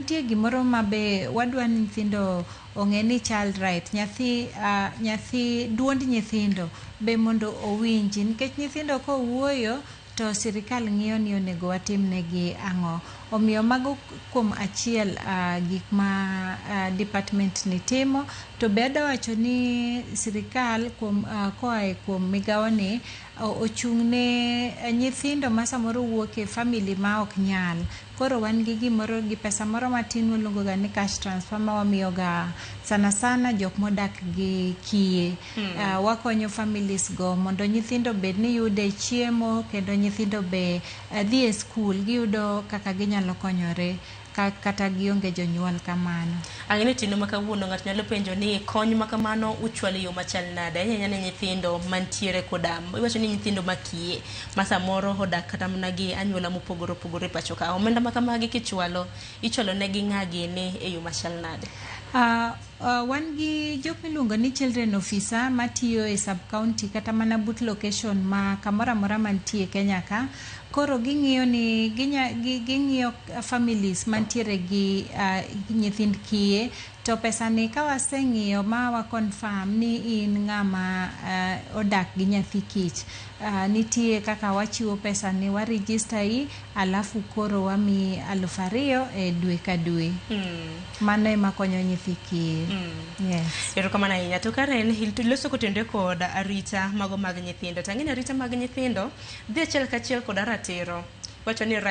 Nitie gimoro ma be wadwa ni nyithindo ong'e ni child right, nyathi, nyathi, duond nyithindo be mondo owinji nikech nyithindo kowuoyo to sirikal ng'iyo ni onego watimnegi ang'o. Omiyo mago kuom achiel gik ma department ni timo. To be adwa wacho ni sirikal kuom, koa e kuom migawoni. ochung' ne nyithindo ma samoro wuok e family ma ok nyal. Koro wan gi gimoro gi pesa moro matin mwaluongo ga ni cash transfer ma wamiyo ga sana sana jok modak gi kiye. Ah, wakonyo families go mondo nyithindo bed ni yude chiemo kendo nyithindo be eh, dhi e skul giyudo kaka ginyalo konyore. ka kata gionge jonyuol kamano. Ang'e ni otieno ma kawuono ng'ato nyalo penjo ni kony ma kamano uchwalo e yo machal nade ahinya ahinya ne nyithindo mantiere koda iwacho ni nyithindo makiye ma samoro odak kata mana gi anyuola mopogore opogore e pacho ka. Omenda ma kamagi kichwalo, ichwalo negi ng'a gini e yo machal nade? Ah, Uh, wan gi jok miluongo ni children officer matiyo e sub county kata mana but location ma kamoro amora mantie Kenya ka koro ging'iyo ni ginya gi- ging'iyo families mantiere gi uh, nyithind kiye to pesani ka waseng'iyo ma wa confirm ni in ng'ama uh, odak gi nyathi kich uh, nitie kaka wachiwo pesani wa register i alafu koro wamiyi aluf ariyo e dwe ka dwe mano ema konyo nyithi kiye yes erokamano ahinya to karen il- loso kotenore kod arita mago mag nyithindo tang'eni arita mag nyithindo dhi achiel kachiel kod ratiro wacho ni right